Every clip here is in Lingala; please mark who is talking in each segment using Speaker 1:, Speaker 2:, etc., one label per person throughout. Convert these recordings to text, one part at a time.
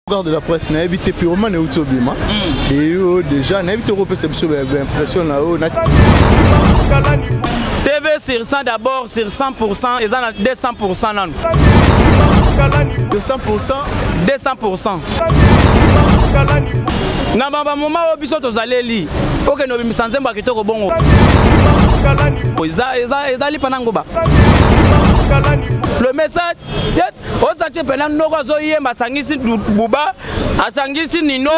Speaker 1: Garde de la presse nayebi te pyromane euti obima eyo déjà nayebi te okopesa biso baimpression na yo
Speaker 2: tv sur 100 d'abord sur 100 pourcent eza na 200 pourcent nanu 200
Speaker 1: pourcent 200
Speaker 2: pourcent na bamoma oyo biso tozaleli okende obimisa nzembo ya kitoko bongo ezali mpa na ngoba le message osati pena noko azoyemba asangisi buba asangisi nino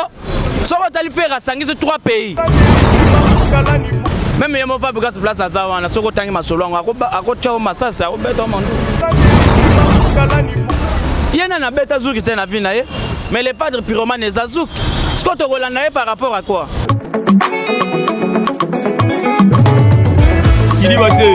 Speaker 2: soki otali fere asangisi trois pays meme ye mova bikasi place aza wana soki otangi masolo yango akotya o masasi akobeta o mandu ye nani abeta zuki te na vi na ye mais le padre piromane eza zuki sikoyo tokolanda ye par rapport à quoi
Speaker 3: kiliba te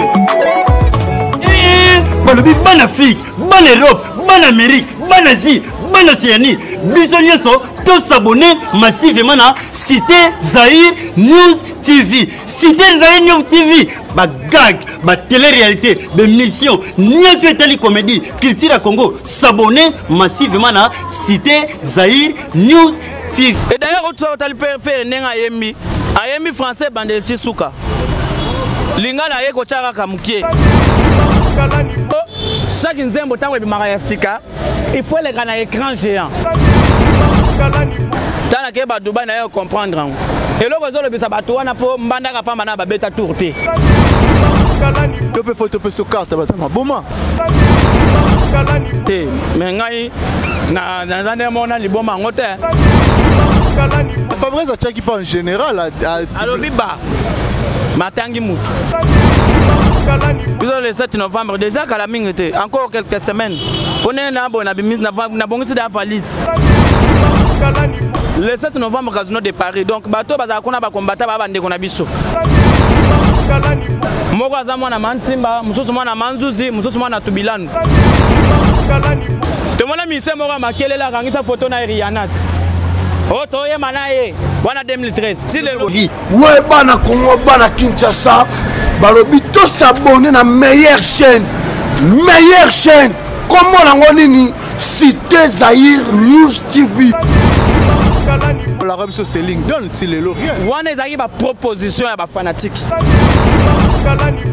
Speaker 3: balobi bana afrike bana europe bana amérique bana asie bana océanie biso nyonso tosabone massivement na cité zaire news tv cité zaire news tv bagag batélé-réalité bémission nyonso etali comédie culture ya congo sabone massivement na cité zaire news ti et d'ailleurs otuka otali
Speaker 2: pere pere ndenge ayembi ayembi français ebandeli ti suka lingala aye kotya kaka moke chaque nzembo ntango ebimaka ya sika il faut eleka na écran géant ntango nakeye badubai na ye ocomprendre yango eloko ezolobisa bato wana mpo mbandaka mpamba na babeta tour te
Speaker 1: to mpe fo to mpe sokarte batama boma
Speaker 2: te me ngai naza nde mona liboma yango te
Speaker 1: fabrice atiaki mpe en général alobi ba
Speaker 2: matangi motu biso le 7 novembre déjà kala mingi te encore quelques semaines mpo ndenge nabongisi da valise le 7 novembre casino de paris donc bato bazala kuna bakombata baa bandeko na biso moko aza mwana mantimba mosusu mwana manzuzi mosusu mwana tubilanu tomona mise moko ya makelele akangisa foto na erianat oyo oh, toyema na ye wana 2013 ti lelo vi we bana
Speaker 4: kongo bana kinshasa balobi tosabone na meilleure chaîne meilleure chaîne kombo nango nini Cité Zaïre News TV.
Speaker 1: olaka biso seling don ti lelo rien wana ezalaki
Speaker 2: baproposition ya bafanatike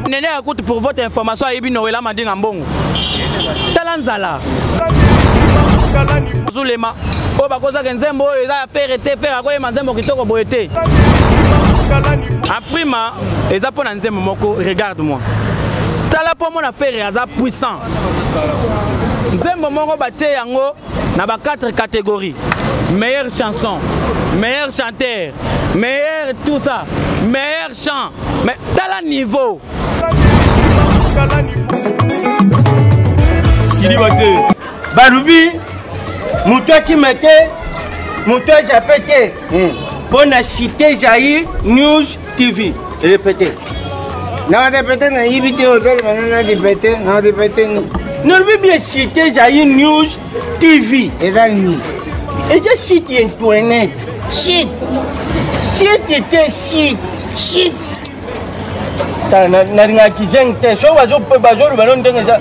Speaker 2: nene ya kutu pour votre information ayebi noela madinga mbongo tala nzala zulema oyo bakozaka nzembo oyo eza ya fere te fere akoyema nzembo kitoko boye te afrima eza mpo na nzembo moko regarde moi tala mpo mona fere aza puissant nzembo moko batie yango na ba 4 catégorie meilleure chanson meilleur chanteur meilleur tout ça meilleur chant mais tala niveau
Speaker 3: kiliba te balobi moto akima te moto ajape te mpo hmm. na cité jair news TV répété na
Speaker 5: répété na yibi te hôtel bana na répété na répété ni nalobi bien
Speaker 3: site ezali news TV eza nini
Speaker 5: eza site
Speaker 3: ya internet site site te site
Speaker 5: site
Speaker 3: nalingaki zeng te soki bazoloba no ndenge eza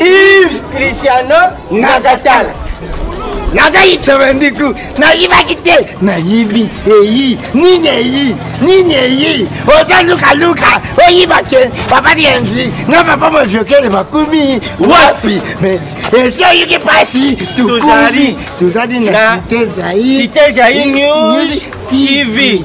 Speaker 5: Yves
Speaker 3: Cristiano Nagatala.
Speaker 5: nazali sevendiku nayibaki te nayibi eyi nini eyi nini eyi oza lukaluka oyiba te papa dienzi na papa moviokele bakumi wapi esi oyoki mpasi tukumi tozali na site
Speaker 3: zaire tv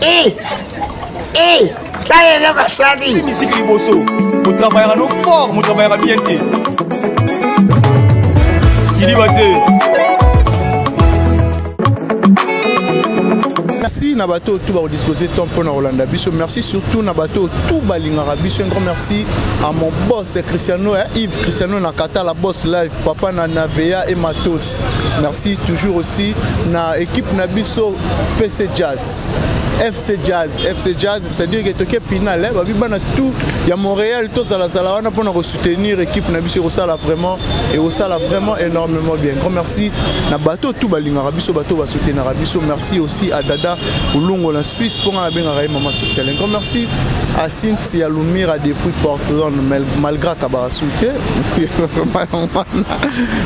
Speaker 5: Eh! Eh! Tala eloko asali! Miziki liboso,
Speaker 2: motravayaka no fort, motravayaka bien te. Kiliba te.
Speaker 1: merci na bato oyo tu bakodispose temps mpo na kolanda biso merci surtout na bato oyo tu balingaka biso un grand merci à mon boss cristiano eh, yves cristiano na katala boss live papa na navea et matos Merci toujours aussi na équipe na biso FC Jazz. FC Jazz, FC Jazz, c'est-à-dire que toke finale, hein, babi bana tout ya Montréal to zala zala wana pona ko soutenir équipe na biso ekosala vraiment et ekosala vraiment énormément bien. Grand merci na bateau tout balingaka biso bateau ba soutenir biso. Merci aussi à Dada Ulungo la Suisse pona na benga maman sociale. Grand merci à Cynthia C'est ya lumira depuis portland malgré kabarasul te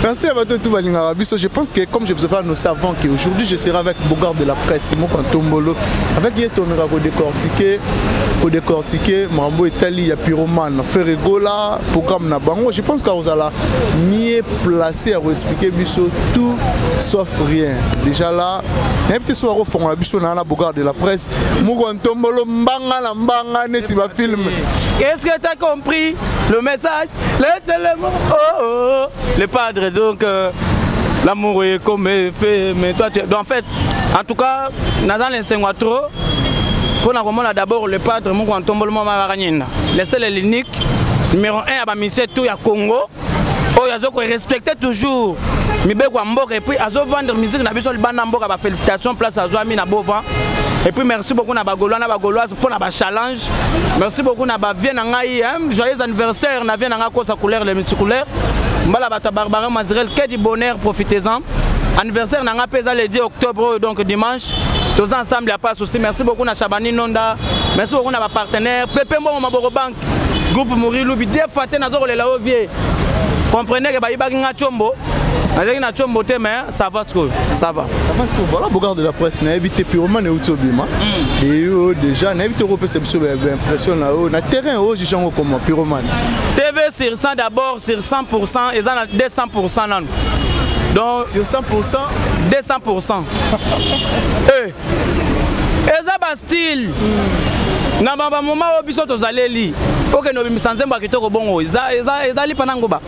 Speaker 1: merci à bato tout balingaka biso je pense que comme je vous avais annoncé avant que aujourd'hui je serai avec bogard de la presse moko ntombolo avec ye tomeka kodécortiquer kodécortiquer makambo etali ya pyromane ferregola programme na bango je pense kakozala mieux placé ya koexplike biso tout sauf rien déjà là nayebi te so bakofongola biso na na bogard de la presse mukwa ntombolo mbanga na mbanga neti bafilme qu'est-ce que t'as
Speaker 2: compris le message les éléments oh, oh, oh. le padre donc euh, l'amour est comme fait mais toi tu... donc, en fait en tout cas naza na esengo trop mpo na komona d'abord le padre mukwa ntombolo mwa marakanyenda le seul et l'unique numéro 1 ya bamisie tout ya congo oyo azo ko respecter toujours mibeko ya mboka et puis azo vendre musique na biso libanda mboka ba félicitations place azwami na bova et puis merci beaucoup na bagolois na bagoloise mpo na bachallenge merci beaucoup na bavie na ngai joyeux anniversaire na vie na ngai kosa couleur le multicouleur mbala bato ya barbara mazirel ke du bonheur profitez-en anniversaire na ngai mpe eza le 10 octobre oyo donc dimanche toza ensemble ya pas souci merci beaucoup na chabani nonda merci beaucoup na bapartenaire pepe mbongo maboko bank groupe mori lubi de fois te naza kolela yo vie comprenez ke bayibaki nga combo nazalaki na combo te mais ça va sikoyo ça va ça va sikoyo voilà bogard
Speaker 1: de la presse nayebi te purement neuti obima hmm. et yo déjà nayebi te okopesa biso baimpression na yo na terrain oyo juge yango koma puromane tv sur
Speaker 2: 100 d'abord sur 100 pourcent eza na 200 pourcent nanu donc sur 100 pourcent
Speaker 1: 200 pourcent
Speaker 2: eh eza ba style mm. na bamoma oyo biso tozaleli okende obimisa nzembo ya kitoko bongo ezali pana ngoba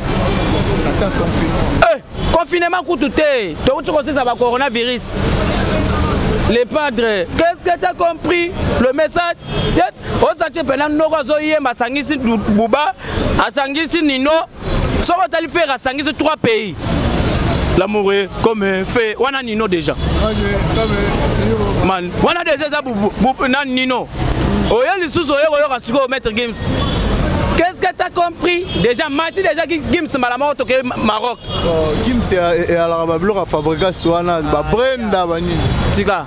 Speaker 2: eh, confinement kutu te touti kosisa ba coronavirus le padre qu'est-ce que t'as compris le message osati mpena noko azoyemba asangisi buba asangisi nino soki otali fere asangisi 3 pays l'amour est comme un fait wana nino déjà man wana déjà eza na nino oye lisusu oye koyoka sikoyo maître games Qu'est-ce que tu as compris Déjà, Mati, déjà, Gims, Malamor, au Maroc. Oh, Gims,
Speaker 1: il y a la fabrication, Brenda, Bani. Tika.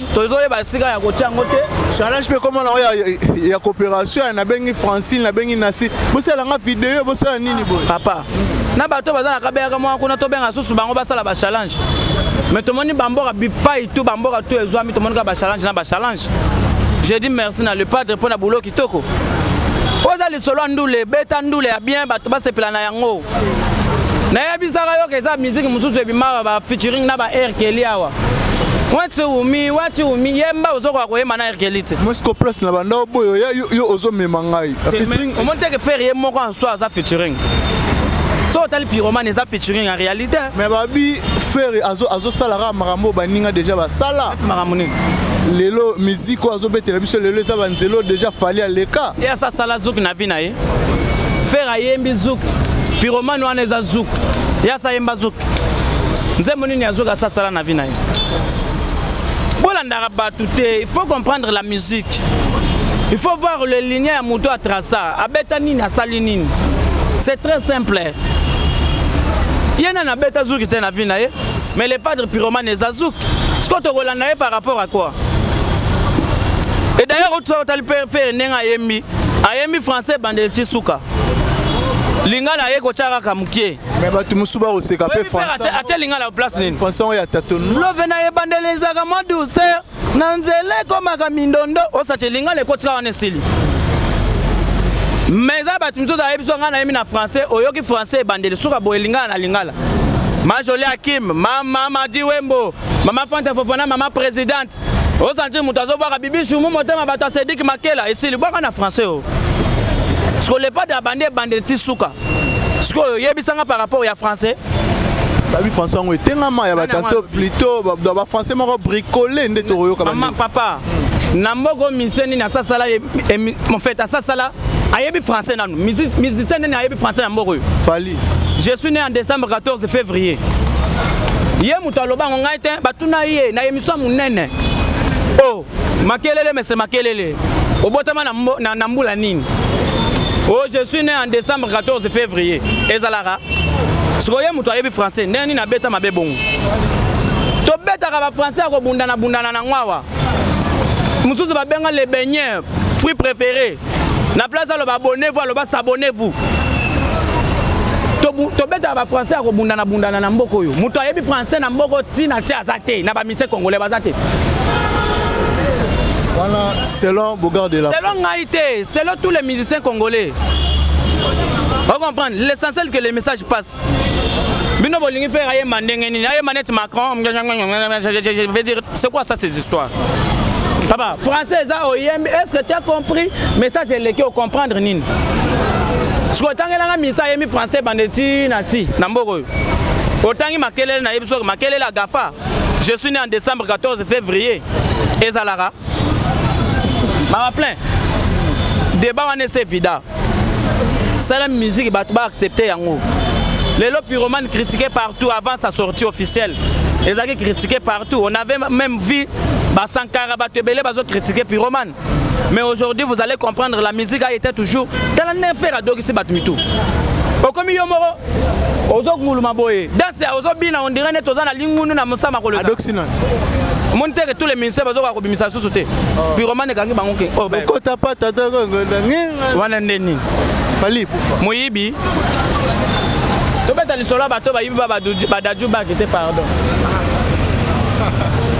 Speaker 2: tozoyeba esika ya kotya yango te challenge mpe ekoma nango
Speaker 1: ya coopération ya nabengi francine nabengi nasi bosala nga video bosala nini boye papa na
Speaker 2: bato baza na kabeyaka mwa kuna tobenga susu bango basala bachallenge mais tomoni bamboka bipai tu bamboka tu ezwami tomoni kaka bachallenge na bachallenge je dis merci na le padre mpo na boulot kitoko oza lisolo ya ndule beta ndule ya bien bato basepela na yango nayebisaka yoka eza miziki mosusu ebimaka ba featuring na ba air keli awa wati umi wati umi yemba ozokoka koyemba na erkeli te mosco place na banda
Speaker 1: oboyo ya yo ozomema ngai omoni teke
Speaker 2: fere ye moko en soi aza featuring so otali pyromane eza featuring en réalité mais babi
Speaker 1: fere azosalaka makambo baninga déjà basala makambo nini
Speaker 2: lelo
Speaker 1: miziki oyo azobetela biso lelo eza banzelo déjà fali aleka ye asasala zoki na
Speaker 2: vi na ye Ferre ayembi zouk, pyromane wana eza zouk. Yasa ayemba zouk. Nzembo nini ya zouk asasala na vie na ye? Bolandaka bato te, il faut comprendre la musique. Il faut voir le ligne ya moto a traça, abeta nini asali nini. C'est très simple. ye nani abeta zuki te na vie na ye mais le padre pyromane eza zuki sikoyo tokolanda ye par rapport à quoi et d'ailleurs otali pere ndenge ayembi ayembi français bandele ti suka lingala aye kotya kaka moke me bato mosusu
Speaker 1: bakoseka mpe françaisatya lingala place nini
Speaker 2: français oyo ya tatono
Speaker 1: love na ebandela
Speaker 2: ezalaka mwa douceur na nzela ekomaka mindondo osatye lingala ekotika wana esili me eza bato misusu ayebi so ngai nayemi na français oyoki français ebandeli suka boye lingala na lingala majoli akim mama madiwembo mama fanta fofana mama présidente osanti moto azobwaka bibisu mu motema bato ya sediki makela esili bwaka na français o siko lepate abandi ebandeli ti suka sikoyo oyebisanga par rapport ya français babi
Speaker 1: français yango etengama ya batanto plutôt bafrançais moko bricole nde tokoyoka mama papa
Speaker 2: na mboka musicien nini asasala mofete asasala ayebi français nanu musicien nini ayebi français na mboka oyo fali je
Speaker 1: suis né en
Speaker 2: décembre 14 février ye moto aloba yango ngai te batuna ye na Swa munene. Oh, makelele mese makelele. Obotama na, na, na mbula nini? Oh, je suis né en décembre 14 février. Ezalaka. Sikoye moto ayebi français, ndenge nini abeta mabe bongo? Tobetaka ba français ya kobundana bundana na ngwawa. Mosusu babenga le beigneur, fruit préféré. na place aloba abonnez-vous aloba s'abonnez-vous tobetaka bafrançais ya kobundana bundana na mboka oyo moto ayebi français na mboka ntina te aza te na bamise congolais baza te
Speaker 1: wana selon bogard de la selon ngai te
Speaker 2: selon tous les musiciens congolais ocomprendre l'essentiel que les messages passent bino bolingi faire ayemba ndenge nini ayemba neti macron veut dire c'est quoi ça ces histoires papa français eza oyembi est ce que tu as compris message eleki ocomprendre nini sikoyo otangelanga misa ayemi français bande ti na ti na mboka oyo otangi makelele nayebi soki makelele ya gafa je suis né en décembre 14 février ezalaka mawa plein débat wana ese vida sala musique bato ba accepte yango lelo pyromane critiqué partout avant sa sortie officielle ezalaki critiqué partout on avait même vu basankara bato ebele bazo critiqué pyromane mais aujourd'hui vous allez comprendre la musique a été toujours tala nefere adokisi bato mitu okomi yo moko ozokunguluma boye danse ozobina ondire neti oza na lingunu na mosama kolosa
Speaker 1: omoni teke
Speaker 2: tous les ministère bazokoka kobimisa lisusu te oh. piromane ekangi bango ke oh, bokota pata
Speaker 1: wana nde
Speaker 2: nini
Speaker 1: moyibi
Speaker 2: tobeta lisolo ya bato bayibi badaju baki te pardon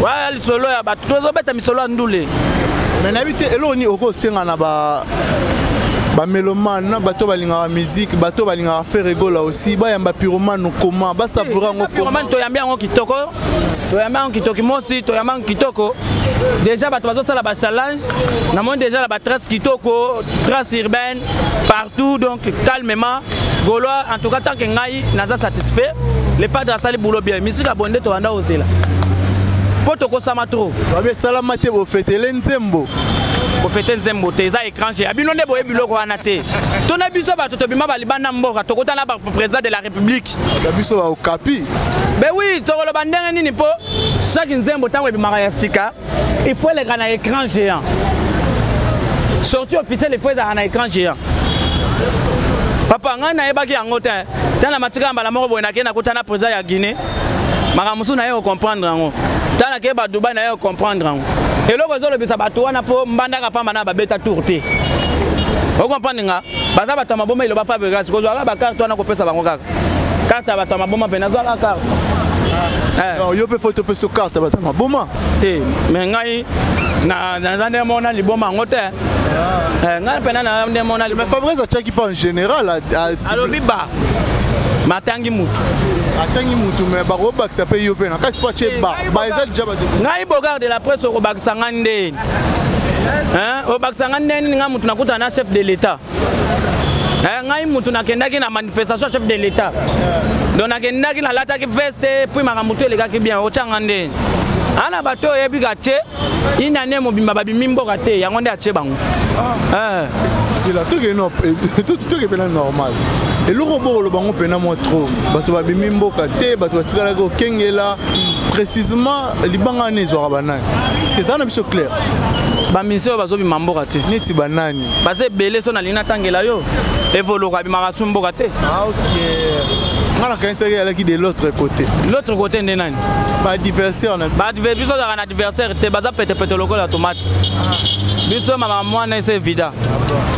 Speaker 2: waya lisolo ya bato tozobeta misolo ya ndule me nayebi
Speaker 1: te eloko nini okosenga na ba bamelomane na bato balingaka miziki bato balingaka feregola aussi bayamba piromane koma basavoura yango piromane toyambi yango kitoko
Speaker 2: toyambi yango kitoki mosi toyambi yango kitoko déjà bato bazosala bachallenge namoni déjà na batrace kitoko trace urbaine partout donc calmement golois en tout cas tant que ngai naza satisfait le padre asali bulo bien misika ya bonde tobanda kozela mpo tokosama trop babi esalama te
Speaker 1: bofetele nzembo bofete
Speaker 2: nzembo te eza étranger ya bino nde boye biloko wana te to na biso bato tobima balibanda mboka tokota na baprésident de la république ya biso baokapi
Speaker 1: be wi
Speaker 2: tokoloba ndenge nini mpo chaque nzembo ntango ebimaka ya sika il faut eleka na écran géant sorti officiel il faut ezalaka na écran géant papa ngai nayebaki yango te ntango na matika ya mbala moko boye nakei nakuta na président ya guinée makambo mosusu naye kocomprendre yango ntango nakei badubai naye kocomprendre yango eloko ezolobisa bato wana mpo mbandaka mpamba na babeta tour te okomprendre nga baza bato ya maboma eloba fabrigas kozwaka bakarte wana kopesa bango kaka karte ya bato ya maboma mpe nazwaka karte eh.
Speaker 1: yo mpe fo topesa karte ya bato ya maboma te me
Speaker 2: ngai naza nde mona liboma yango te ah. eh, ngai mpena na nde mona liboma fabrigas atyaki mpe en
Speaker 1: général alobi ba
Speaker 2: matangi mutu atangi mutu
Speaker 1: me bakobakisa mpe yo mpe na kasi mpo atye ba ba eza deja ngai bogard de la
Speaker 2: presse okobakisa ngai nde hein obakisa nga ndenge nini nga mutu nakutana na chef de l'etat eh, ngai mutu nakendaki na manifestation chef de l'etat donc nakendaki nalataki veste puis makambo to elekaki bien otyanga ndeni ana bato oyebi katie ina ne mobimba babimi mboka te yango nde atie bango ah. eh.
Speaker 1: sila tokepena eh, normal eloko bokolo bango mpena mwa trop bato babimi mboka te bato batikalaki kokengela précisément libanga wana ezwaka banani eza na biso claire baminisi
Speaker 2: oyo bazobima mboka te neti banani baza
Speaker 1: ebele so nalingi
Speaker 2: natangela yo evoluka abimaka su mboka te ah,
Speaker 1: nga nakanisaki alaki de l'autre côté l'autre côté nde nani baadversaire biso ozalaka na
Speaker 2: adversaire te baza petepete lokola tomate biso mama mwana ese vida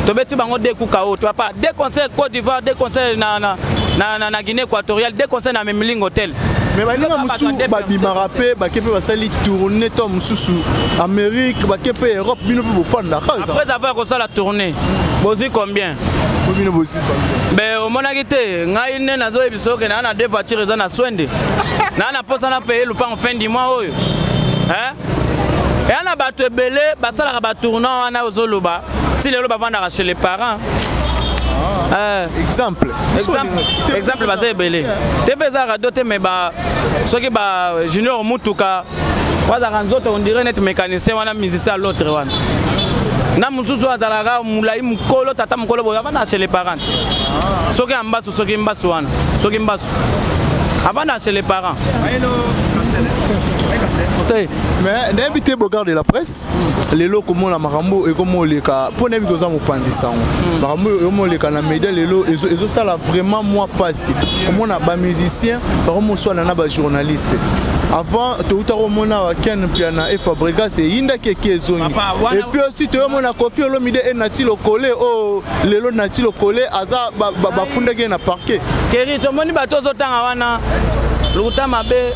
Speaker 2: tobeti bango de kuka oyo toyapa de conseil côte d'ivoire de conseil na, na, na, na, na guinée équatoriale de conseil na mimilingo tel me baninga mosusu
Speaker 1: babimaka mpe bake mpe basali tourne to mosusu amérique bake mpe europe bino mpe bofandaka après avoir kosala
Speaker 2: tourne bozwi combien bino bozwi
Speaker 1: combien be omonaki te
Speaker 2: ngai nde nazoyebisa oke naa na deux voiture eza na swende naa na mposa na paye lupango fin du mois oyo eya na bato ebele basalaka batournant wana ozoloba si lelo bavandaka chez les parents ah, euh, exemple
Speaker 1: exemple
Speaker 2: baza ebele te mpe eza radio te mais ba soki ba junior mutuka bazalaka nzoto ondire neti mécanicien wana musicien ya l'autre wana na mosusu azalaka molai mokolo tata mokolo boye avandaka chez les parents ah. soki ambas soki mbasu wana soki mbasu avanda chez les parents
Speaker 1: te mais nayebi te bogard de la presse lelo komona makambo ekomoleka mpo nayebi koza mopanzi sango hmm. makambo ekomoleka na media lelo ezosala vraiment mwa mpasi komona bamusicien bakomoswana na bajournaliste avant touta komona wa ken mpiana e fabregas eyindaki eki ezongi epuis aussi toyomona kofi olomide enati lokole o oh, lelo nati lokole aza bafundaki ye na parquet keri tomoni bato
Speaker 2: ozotanga wana lokuta mabe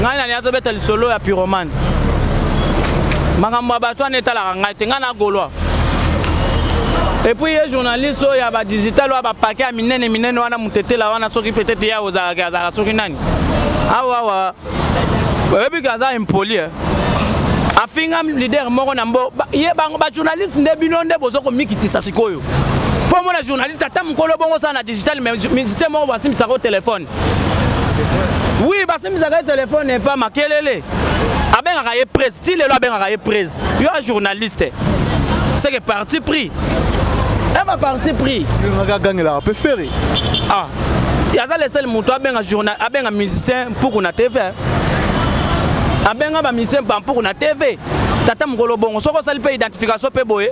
Speaker 2: ngai nani azobeta lisolo ya pyromane makambo ya bato wana etalaka ngai te ngai na golois epuis ye journaliste oyo ya badigital oyo bapake ya minene minene wana motetela wana soki peut-être ye ozalaka azalaka soki nani awawa oyebi ke aza impoli eh? afinga leader moko na mbo ye bango bajournaliste nde bino nde boza komikitisa sikoyo mpo omona journaliste ata mokolo bongo osala na digital musicien moko basimbisaka o telefone wi basimbisaka ye telefone epa makelele abengaka ye prise ti lelo abengaka ye prise yo a journaliste seke parti pris ema parti pris agangelaka mpe
Speaker 1: feri ah
Speaker 2: aza le seul moto abenga journal abenga musicien mpuku na tv eh. abenga bamusicien bampuku na tv tata mokolo bongo soki osali mpe identification mpe boye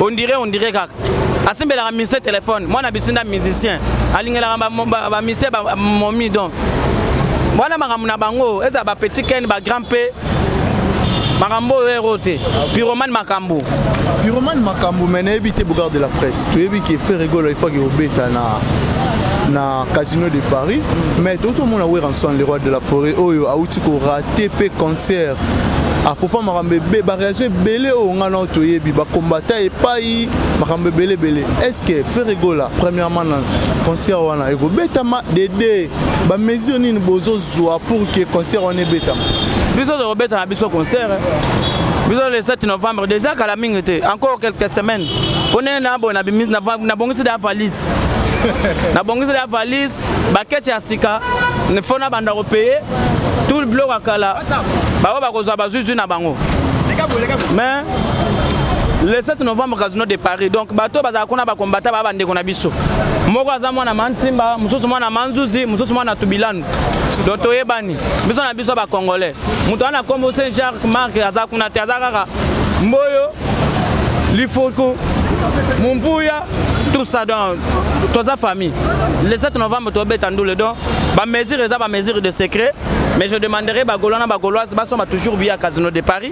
Speaker 2: ondire ondire kaka asimbelaka musicien telefone mwana bisinda musicien alingelaka bamusicien momi donc wana makambo na bango ezala bapetit ken bagrand mpe makambo oyo ero te pyromane makambo pyromane
Speaker 1: makambo mai nayebi te bogard de la presse toyebi ke frère egola ifaki obeta na na casino de paris mais toki tomona weranson le roi de la forêt oyo awuti korate mpe concert apopa makambo ebe bareaction ebele oyo ngai nao toyebi bakombata epai makambo ebele ebele est ce que ferre gola premièrement na concert wana ekobetama dede ba mesure nini bozo zua pour que concert wana ebetama biso tokobeta
Speaker 2: na biso concert eh. biso le 7 novembre déjà kala mingi te encore quelques semaines pone na bo na bimisi na bongisi da valise na bongisi da valise bakete ya sika fo na banda kopeye tout le bloc ya kala bango bakozwa bazwizwi na bango mais le 7 novembre casino de paris donc bato bazala kuna bakombata baa bandeko na biso biso moko aza mwana mantimba mosusu mwana manzuzi mosusu mwana tubilanu donc toyebani biso na biso bacongolais moto wana nkombo saint jacques mark aza kuna te aza kaka mboyo lifuku mumbuya tout ça donc toza famille le 7 novembre tobeta ndule donc bamesure eza bamesure de secret mais je demanderai bagolois na bagoloise basomba toujours biya casino de paris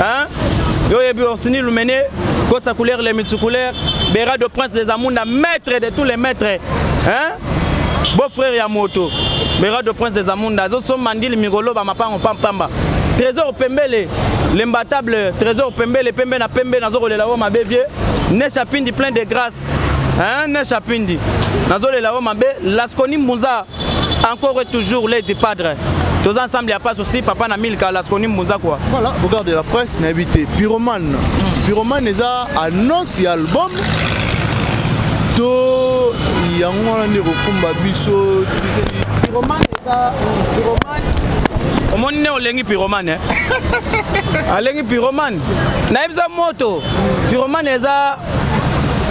Speaker 2: Hein? Yo yebi Orsini Lumene, Kosa couleur les multicouleurs, Bera de prince des Amunda, maître de tous les maîtres. Hein? Beau frère ya moto. Bera de prince des Amunda, azo so mandili migolo ba mapango pampamba. Trésor Pembele, l'imbattable Trésor Pembele, Pembe na Pembe nazo kolela wo mabe vieux. Nesha Pindi plein de grâce. hein ne chapindi nazolela yo mabe laskoni mbunza encore et toujours lady padre tous ensemble ya passe aussi papa na milka laskoni mbunza quoi voilà regarde de la presse
Speaker 1: nayebi te pyromane hmm. pyromane eza annonce ya album to yango wana nde kokumba biso titi pyromane eza
Speaker 2: pyromane omoni nde olengi pyromane eh? alengi pyromane nayebisa moto pyromane eza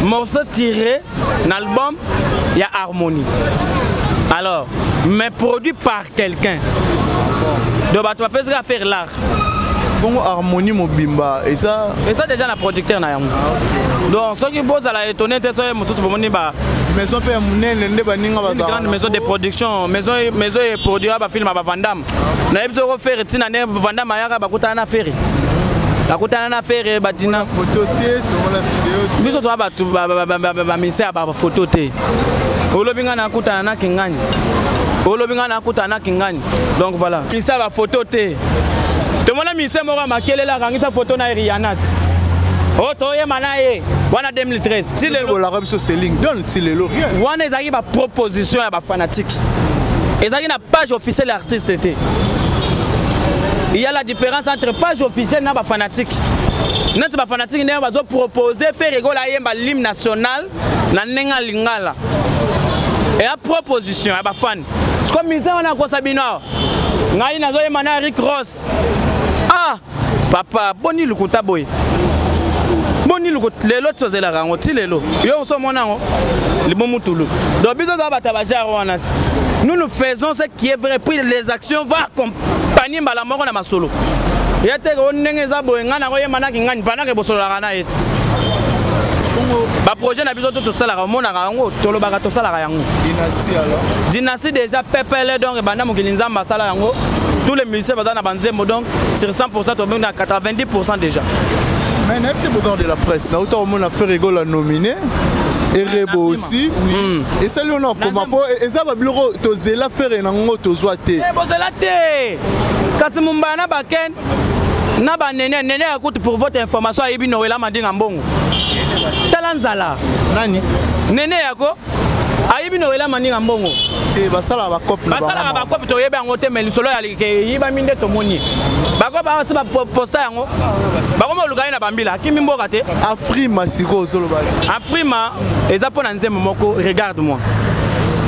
Speaker 2: morceau tiré na album ya harmonie alors mais produit par quelqu'un donc bato bapesaka affaire l'art bongo
Speaker 1: harmonie mobimba eza eza déjà na producteur
Speaker 2: na yango ah, donc soki bozala étonné te soki mosusu bomoni ba maison mpe ya monene
Speaker 1: nde baninga bazalgrande maison de production
Speaker 2: maison eproduira bafilme ya bavandame Na yebisi oko ferre tina ne vanda mayaka bakutana na ferre. Bakutana na ferre badina photo te tomona
Speaker 1: video te. Biso toa bato
Speaker 2: ba mise ya ba photo te. Olobi nga nakutana na kingani. Olobi nga nakutana na kingani. Donc voilà. Kisa ba photo te. Tomona mise moko ya makelele akangisa photo na Rihanna. Oh toyema na ye. Wana 2013. Ti lelo bolaka biso
Speaker 1: seling. ti lelo rien wana ezalaki ba
Speaker 2: proposition ya ba fanatique ezalaki na page officielle ya artiste te il y a la différence entre page officielle na ba fanatique neti ba fanatique ndenge bazo proposer ferre gola ayemba l'hymne national na ndenge ya lingala eya proposition ya bafani siko mise wana akosa bino awa ngai nazoyemba na eric ross ah papa boni lokuta boye boni lokuta lelo tozelaka yango ti lelo yo oso omona yango libomu tulu donc biso toza bato ya bajare wana ti nous nous faisons ce qui est vrai puis les actions va accompagner mbala moko na masolo ya teke o ndenge eza boye ngai nakoyemanaki ngani mpanaka ebosololaka na ye te baprojet na biso to tosalaka omonaka yango tolobaka tosalaka yango dynastie
Speaker 1: déjà
Speaker 2: pepele donc ebanda mokili nzambe asala yango tous les musiciens baza na banzembo donc sur 100 tobengaki na 90 déjà mais nayebi
Speaker 1: te bogard de la presse nauta komona ferregola nominé erebo aussi hmm. esali yo na okoma mpo eza babiloko tozela fere na ngo tozwa te eh, bozela te
Speaker 2: kasi mombaya na baken na banene nene ya kutu pour votre information ayebi nowela madinga mbongo tala nzala nani
Speaker 1: nene yako
Speaker 2: ayebi nowela mandinga mbongo eh, basalaka
Speaker 1: bakopi toyebi yango
Speaker 2: te me lisolo ya eyibami nde tomoni bako basi baposta yango bakoma oluka ye na bambila akimi mboka te afrima sikoyo
Speaker 1: ozoloba afrima
Speaker 2: eza mpo na nzembo moko regarde moi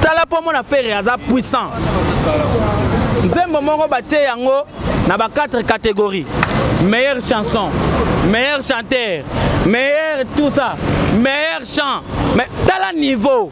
Speaker 2: tala mpo mona fere aza puissant nzembo moko batie yango na ba 4 catégories meilleure chanson meilleur chanteur meilleur tout ça meilleur chant mais tala niveau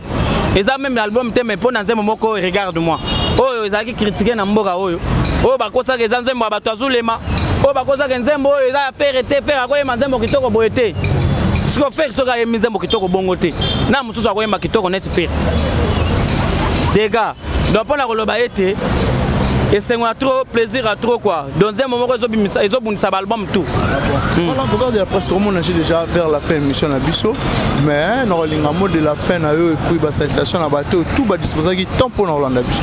Speaker 2: eza meme na album te mais mpo na nzembo moko regarde moi oyo ezalaki kritike na mboka oyo oyo bakosaka eza nzembo ya bato ya zulema oyo bakosaka nzembo oyo eza ya fere te fere akoyema nzembo kitoko boye te siko fere soki ayemi nzembo kitoko bongo te na mosusu akoyema kitoko neti fere dega donc mpo na koloba ete esengo ya trop plaisir ya trop quoi dans un moment ezobundisa baalbum tout hmm. voilà pourquoi
Speaker 1: de la presse tomona je déjà vers la fin émission na biso mais nakolinga mot de la fin na yo epuis basalutation na bato oyo tout badisposaki temps mpo na kolanda biso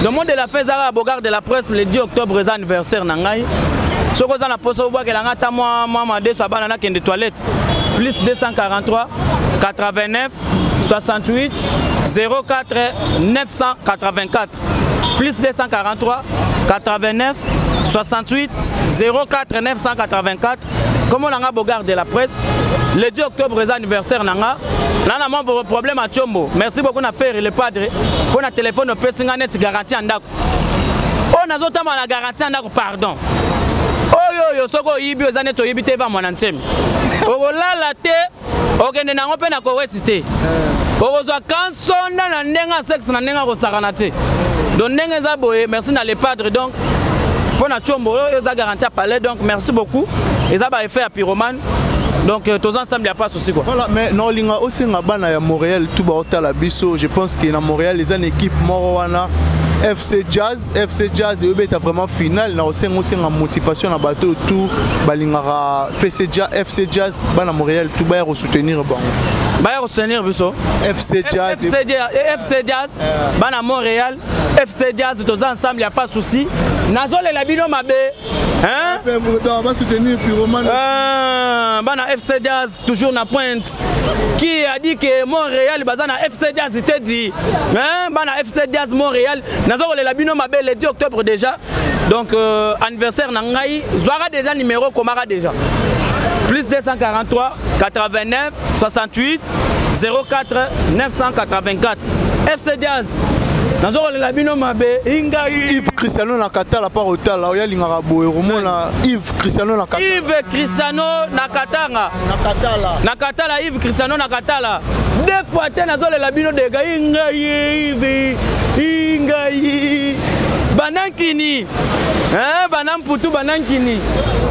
Speaker 1: le mot de la fin
Speaker 2: ezaka bogard de la presse le 10 octobre eza anniversaire na ngai soki oza na mposa obwakela ngai ata mwa mwa madeso abana nakende toilette plus 243 89 68 04 984 plus 243 89 68 04 984 komo na nga bogard de la presse le 10 octobre eza anniversaire na nga na na mwa problème ya combo merci beaucoup na ferre le padre mpo na telefone opesi nga neti garanti ya ndako oyo nazotamba na garanti ya ndako pardon oyo oyo soki oyibi oza neti oyibi te eva mwana nsemi okolala te okende nango mpe na koweti te eh. okozwa kansonda na ndenge ya sexe na ndenge akosakana te donc ndenge eza boye merci na le padre donc mpo na combo oyo eza garanti ya palais donc merci beaucoup eza ba effet ya pyromane donc euh, tous ensemble ya pas souci quoi voilà mais na olinga
Speaker 1: osenga bana ya montréal tout baotala biso je pense que na montréal eza na équipe moko wana fc jazz FC Jazz eyobeta vraiment finale na osenga osenga motivation na bato oyo tout balingaka FC Jazz, FC Jazz bana Montréal tout baya kosoutenir bango baya kosoutenir
Speaker 2: biso FC Jazz FC Jazz,
Speaker 1: FC Jazz
Speaker 2: euh. bana Montréal FC Jazz toza ensemble ya pas souci nazolela bino mabe hein? Bana FC Jazz toujours na pointe qui a dit que Montréal baza na FC Diaz te dit hein bana FC Diaz Montréal nazo kolela bino mabe le 10 octobre déjà donc euh, anniversaire na ngai zwaka déjà numéro komaka déjà plus 243 89 68 04 984 FC Diaz nazo kolela bino mabe ingai Yves Cristiano na
Speaker 1: katala par otala oyalingaka boye komona Yves Cristiano na Katala. Yves Cristiano
Speaker 2: na Katanga. Na Katala. Na Katala Yves Cristiano na Katala. Deux fois te nazolela bino dega inga Yves inga Yves. Banankini. Hein bana mputu banankini.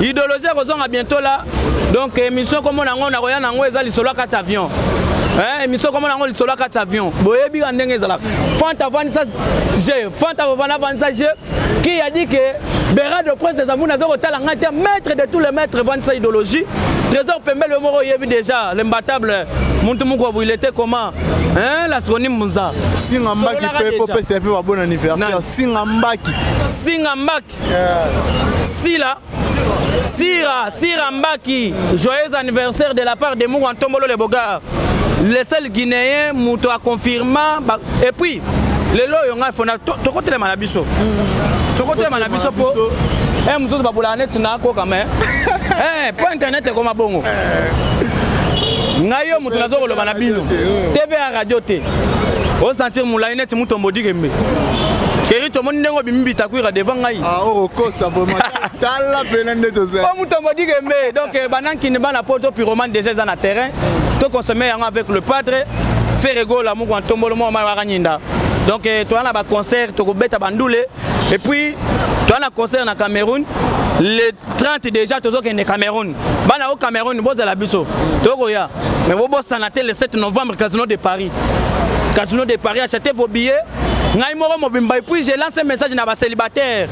Speaker 2: Idéologie kozonga bientôt là. Donc émission comme on a on a rien en eza lisolo kati avion. Hein émission comme on a on lisolo kati avion. Boyebi ndenge ezalaka. Fanta vanisa je Fanta papa na vanisa je qui a dit que Bera de Prince des Amours nazo kotala nga te maître de tous les maîtres vanisa idéologie Trésor Pembele moko yebi déjà l'imbattable muntu moko abuile te comment hein la seconde munza singa mbaki pe
Speaker 1: ko pesa pe ba bon anniversaire singa mbaki singa mbaki sila sira sira mbaki joyeux anniversaire de la part de mouwa ntombolo le bogar le seul guinéen moto aconfirma et puis lelo oyo ngai fona tokotelema na biso mm. tokotelema na biso mpo eh, mosusu babolaka neti nakoka me eh, mpo internet ekoma bongo eh. ngai yo moto nazo koloba na bino tv ya radio te o sentir molai neti mutombo dikembe keri tomoni ndenge obimi bitakwira devant ngai ah, okokosa oh, vraiment tala pena nde tozali o mutombo dikembe
Speaker 2: donc eh, banankini bana poto pyromane déjà eza na terrain tokonsome yango avec le padre feregola moko ya ntombolo moko mai wakanyinda donc eh, toza na baconcert tokobeta bandule et puis toza na concert na cameroun le 30 déjà tozokende cameroun bana o cameroun bozala biso tokoya mais bobosana te le 7 novembre casino de paris casino de paris achete vos billets ngai moko mobimba epuis je lance message na bacélibataire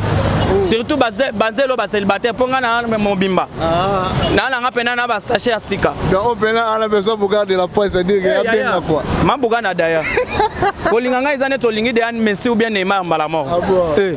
Speaker 2: surtout bazelo bacélibataire mpo ngai na mobimba ah. nalanga mpena na basache ya sika
Speaker 1: mabugana daya
Speaker 2: kolinga ngai eza neti olingi deane messi ou bien neymar mbala moko ah eh.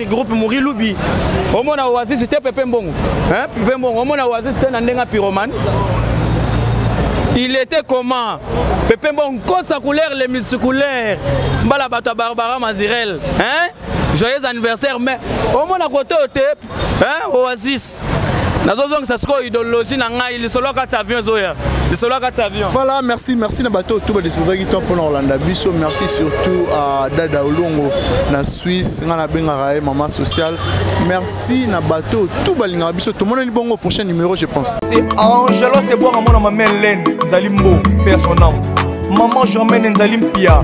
Speaker 2: groupe muri lubi omona oasis te pepe mbongo pepe mbongo omona oasis te na ndenge pyromane il était comment pepe mbongo kosa couleur le musculaire mbala bato ya barbara mazirel hein joyeux anniversaire mais omona kote oyo te oasis nazozongisa sikoyo idéologie na ngai lisolo ya kati avion ezoya lisolo ya kati avion voilà merci merci na
Speaker 1: bato oyo to badisposaki temps mpona kolanda biso merci surtout à dada olongo na suisse ngai nabengaka ye mama sociale merci na bato oyo to balingaka biso tomonani bongo prochain numéro je pense c'est angelo
Speaker 6: sebwanga mwana mameleine nzali mbo personam maman germaine nzali mpia